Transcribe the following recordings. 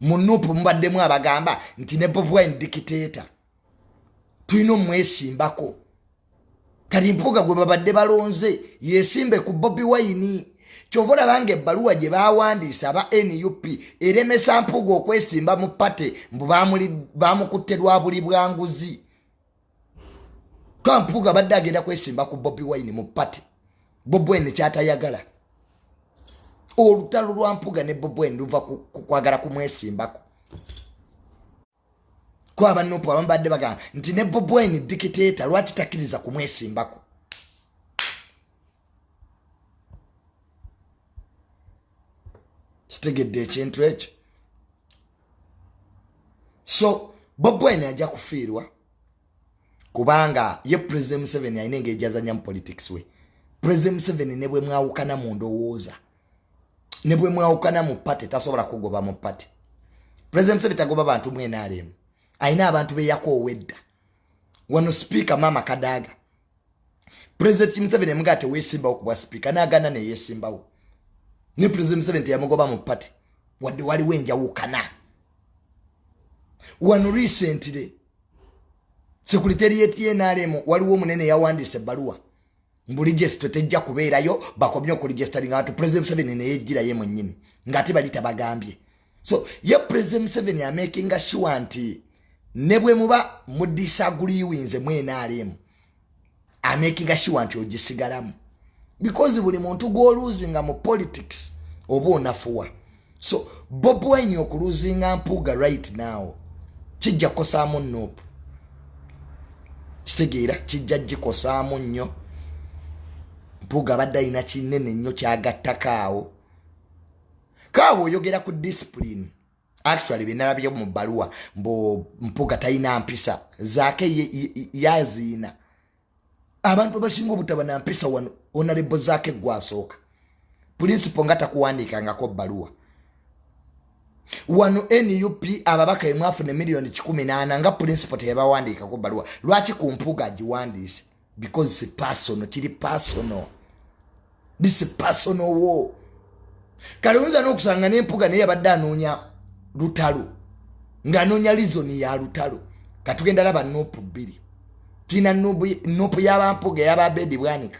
mu nup mubaddemu abagamba nti ne bob wine dikiteeta tulina omwesimbako kati mpuuga gwe babadde balonze yesimbe ku bobi wayini kyova olabanga ebbaluwa gye bawandiise aba nup eremesa mpuuga okwesimba mu pate mbu bamukutte lwa buli bwanguzi kampuga abadde agenda kwesimba ku bobi wine mu pati bobwene kyatayagala olutalo lwa mpuga ne bobwene luva kukwagala kumwesimbako kwaba nupu abamu badde bagamba nti ne bobwene dikiteeta lwaki takiriza kumwesimbako kitegedde ekintu ekyo so bobwine ajja kufiirwa kubanga ye president museveni alina engeri gyazanyamu politics we president museveni ne bwe mwawukana mu ndowooza ne bwe mwawukana mu pate tasobola kugoba mu pate president museveni tagoba bantu mwenaalemu alina abantu beyakowedda wano sipiika maama kadaaga pulezidenti museveni emugaa teweesimbawo ku bwa sipiika n'agaana neyeesimbawo ne pulezidenti museveni teyamugoba mu pati wadde waliwo enjawukana wano riisentire sekuliteri yetnrm waliwo omunene yawandiisa ebbaluwa mbu ligesito tejja kubeerayo bakomye okuligesitalinga bantu pulezidenti museveni neyejjiraye mwennyini ng'ate bali tabagambye so ye president museveni amakinga sure nti ne bwe muba mudisaguliwinze mu nrm amakinga sure nti ogisigalamu because buli muntu gwoluzinga mu politics oba onafuwa so bob wine okuluzinga mpuuga right now kijja kukosaamu nup kitegeera kijja gikosaamu nnyo mpuuga abadde alina kinene nnyo kyagattako awo kaawe oyogera ku discipline actually byenalabye mu bbaluwa mbu mpuga talina mpisa zaake yaziina abantu abasinga obutaba na mpisa wano onalebo zaake gwasooka pulinsipo nga takuwandiikangako bbaluwa wano nup ababaka emwafuna emiliyoni kikumi naana nga pulinsipo teyabawandiikako bbaluwa lwaki ku mpuga agiwandiise because si personal kiri personal this is personal war kale oyinza n'okusanga n'empuga naye yabadde anoonya lutalo ng'anoonya lizoni ya lutalo katugenda laba nupu bbiri tulina nupu y'abampuga ey'ababeedi bwanika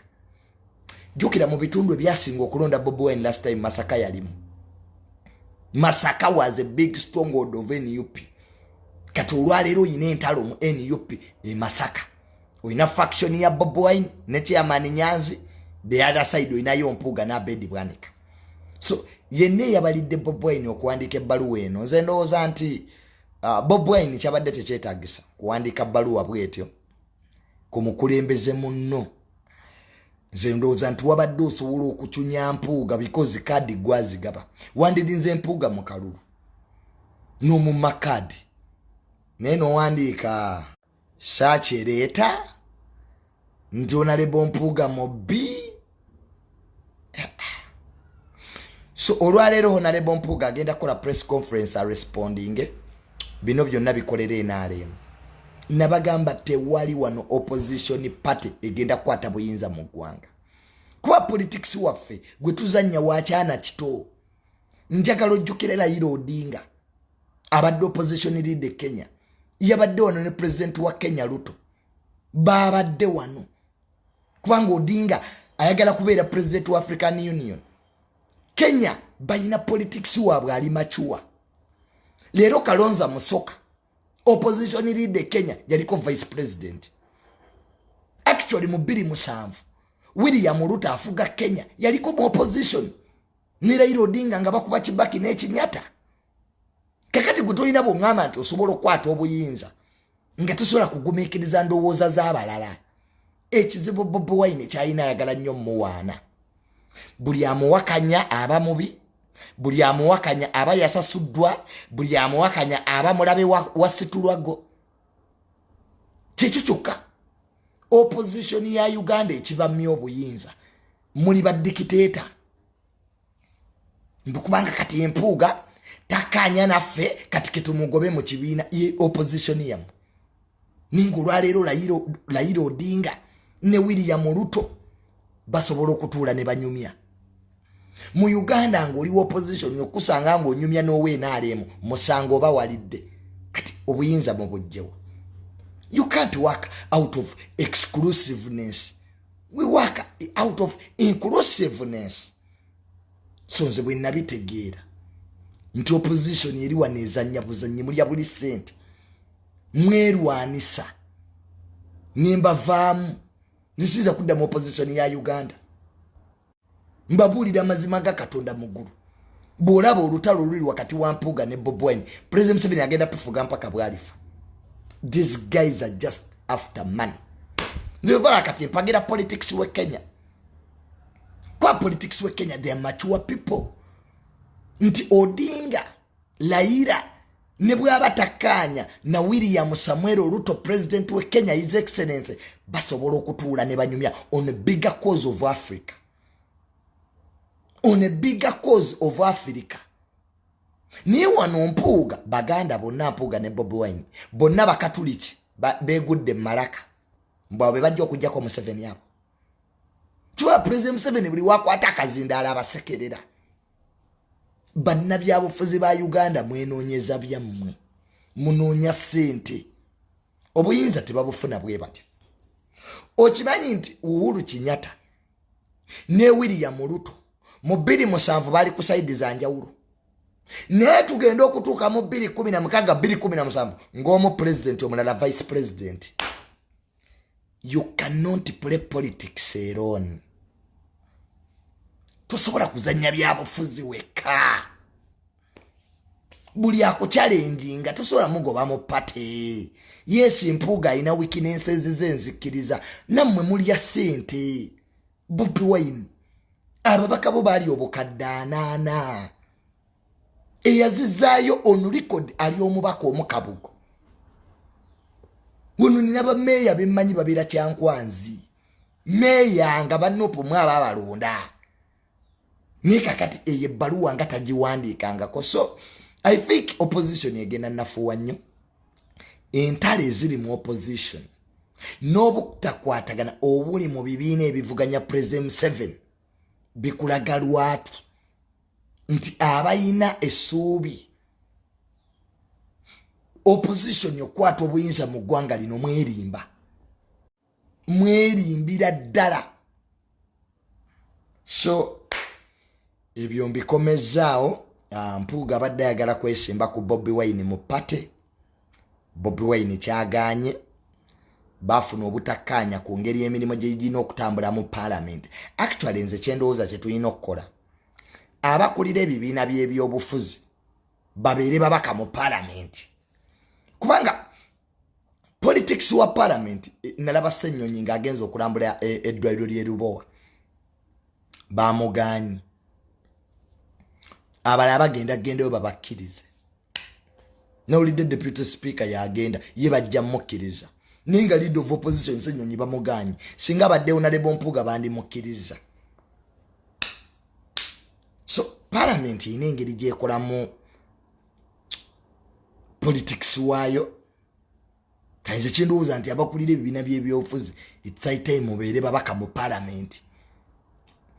jjukira mu bitundu ebyasinga okulonda bobowen last time masaka yalimu masaka was a big stronghold of nup kati olwaleero oyina entalo mu nup e masaka olina faction ya bob wine ne chairman nyanzi the other side olinayo mpuuga nabedi bwanika so yenna eyabalidde bob wine okuwandiika ebbaluwa eno nze ndowooza nti uh, bob wine kyabadde tekyetagisa kuwandiika bbaluwa bwetyo ku mukulembeze munno nze ndowooza nti wabadde osobola okucunya mpuuga bikozi kaadi gwazigaba wandirinze mpuuga mu kalulu n'omumma kaadi naye nowandiika saaki ereeta nti onalebo mpuuga mubbi so olwaleero honalebo mpuuga agenda kukola press conference arespondinge bino byonna bikolera enaalemu nabagamba tewali wano opposition party egenda kukwata buyinza mu ggwanga kuba politics waffe gwe tuzanya wakyana kito njagala ojjukira elayira odinga abadde opposition leader e kenya yabadde wano ne pulezidenti wa kenya luto baabadde wano kubanga odinga ayagala kubeera pulezidenti wa african union kenya balina politics waabwe ali macuwa leero kalonza musoka opposition leader e kenya yaliko vice president actually mu biri musanvu william luto afuga kenya yaliko mu opposition ne Raila Odinga nga bakuba Kibaki n'ekinyata kakati gwe tolina bwongamba nti osobola okukwata obuyinza nga tosobola kugumikiriza ndowooza z'abalala ekizibu bobi wine kyalina ayagala nnyo muwaana buli amuwakanya aba mubi buli amuwakanya aba yasasuddwa buli amuwakanya aba mulabe wasitulwago wa kyekyo kyokka opposition ya uganda ekibamya obuyinza muli badikiteeta mbikubanga kati empuuga takanya naffe kati ketumugobe mu kibiina opposition yamu ninga olwaleero layira odinga ne william luto basobola okutuula ne banyumya mu uganda nga oliwo opposition okusanga nga onyumya nowenaaliemu musango oba walidde kati obuyinza mu bujjewo you can't work out of exclusiveness we work out of inclusiveness so nze bwe nabitegeera nti opposition eri wano ezanya buzanyi mulya buli sente mwerwanisa nembavaamu nzisiza kuddamu opposition ya uganda mbabuulira amazima ga katonda mu ggulu bw'olaba olutalo oluli wakati wa mpuuga ne bobwine president museveni agenda tufuga mpaka bwalifa these guys are just after money nzevala kati empagira politics we kenya kwa politics we kenya they are mature people nti odinga layira ne bwaba takkaanya na william samuel oluto pulezidenti we kenya his excellency basobola okutuula ne banyumya on a bigger cause of africa on a bigger cause of africa naye wano mpuuga baganda bonna mpuuga ne bobi wine bonna bakatuliki begudde mumalaka mbwabo bebajja okujjako museveni abo kiba pulezidenti museveni buli wakwata akazindaala abasekerera bannabyabufuzi ba uganda mwenoonyeza byammwe munoonya ssente obuyinza tebabufuna bwe batyo okimanyi nti uhulu kinyata ne william luto mu bbiri musanvu bali ku saidi za njawulo naye tugenda okutuuka mu bbiri kumi na mukaaga bbiri kumi na musanvu ng'omu pulezidenti omulala vice pulezidenti you cannot play politics eron tosobola kuzanya byabufuzi weka buli akukyalenjinga tosobola mugoba mu pate yes mpuuga alina wikinensezi ze nzikiriza nammwe mulya sente bupiwine ababaka bo baali obukadde anaana eyazizaayo on record ali omubaka omukabugo wano nina bameeya bemmanyi babeera kyankwanzi meeya nga banopo mwaba abalonda naye kakati eyo ebbaluwa nga tagiwandiikangako so i think opposition egenda nafuwa nnyo entalo eziri mu opposition n'obutakwatagana obuli mu bibiina ebivuganya president museven bikulaga lwatu nti abayina esuubi opposition okukwata obuyinza mu ggwanga lino mwerimba mwerimbira ddala so ebyo mbikomezaawo ah, mpuuga abadde ayagala kwesimba ku bobi wine mu pate bobi wine kyaganye bafuna obutakkaanya ku ngeri emirimu gyegirina okutambula mu paalamenti actually nze kyendowooza kyetulina okukola abakulira ebibiina by'ebyobufuzi babeere babaka mu palamenti kubanga politics wa palamenti eh, nalaba senyonyi ng'agenza okulambula eh, eddwaliro ly'erubowa bamugaanyi abalala bagenda gendayo babakkirize nawulidde deputy speaker yagenda ye bajja mukkiriza naye nga lead of opposition senyonyi bamugaanyi singa abadde onalebo mpuuga bandimukkiriza so palamenti erina engeri gyekolamu politics waayo kanze kyendowooza nti abakulira ebibiina byebyobufuzi itsitime obeere babaka mu palamenti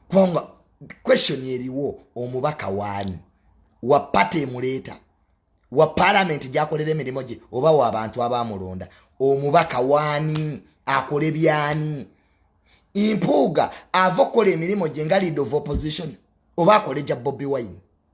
kubanga question eriwo omubaka waani wa pate emuleeta wa palamenti gyakolera emirimu gye oba wa abantu abamulonda omubaka waani akole byani mpuuga ava okukola emirimu gye nga lead of opposition oba akole gya bobi wine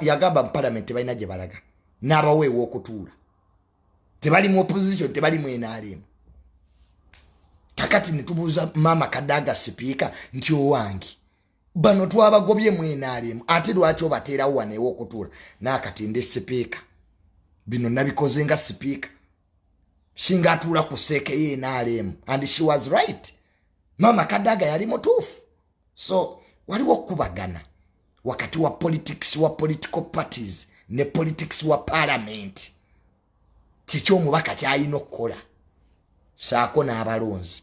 yagamba mu palamenti tebalina gye balaga n'abawa ew'okutuula tebali mu opposition tebali mu nrm kakati netubuuza maama kadaga sipiika nti owange bano twabagobye mu nrm ate lwaki obateerawo wano ew'okutuula naakati ndi sipiika bino nabikoze nga sipiika singa atuula ku seekeyo nrm and she was right maama kadaga yali mutuufu so waliwo okukubagana wakati wa politics wa political parties ne politics wa palamenti kiki omubaka kyalina okukola saako n'abalonzi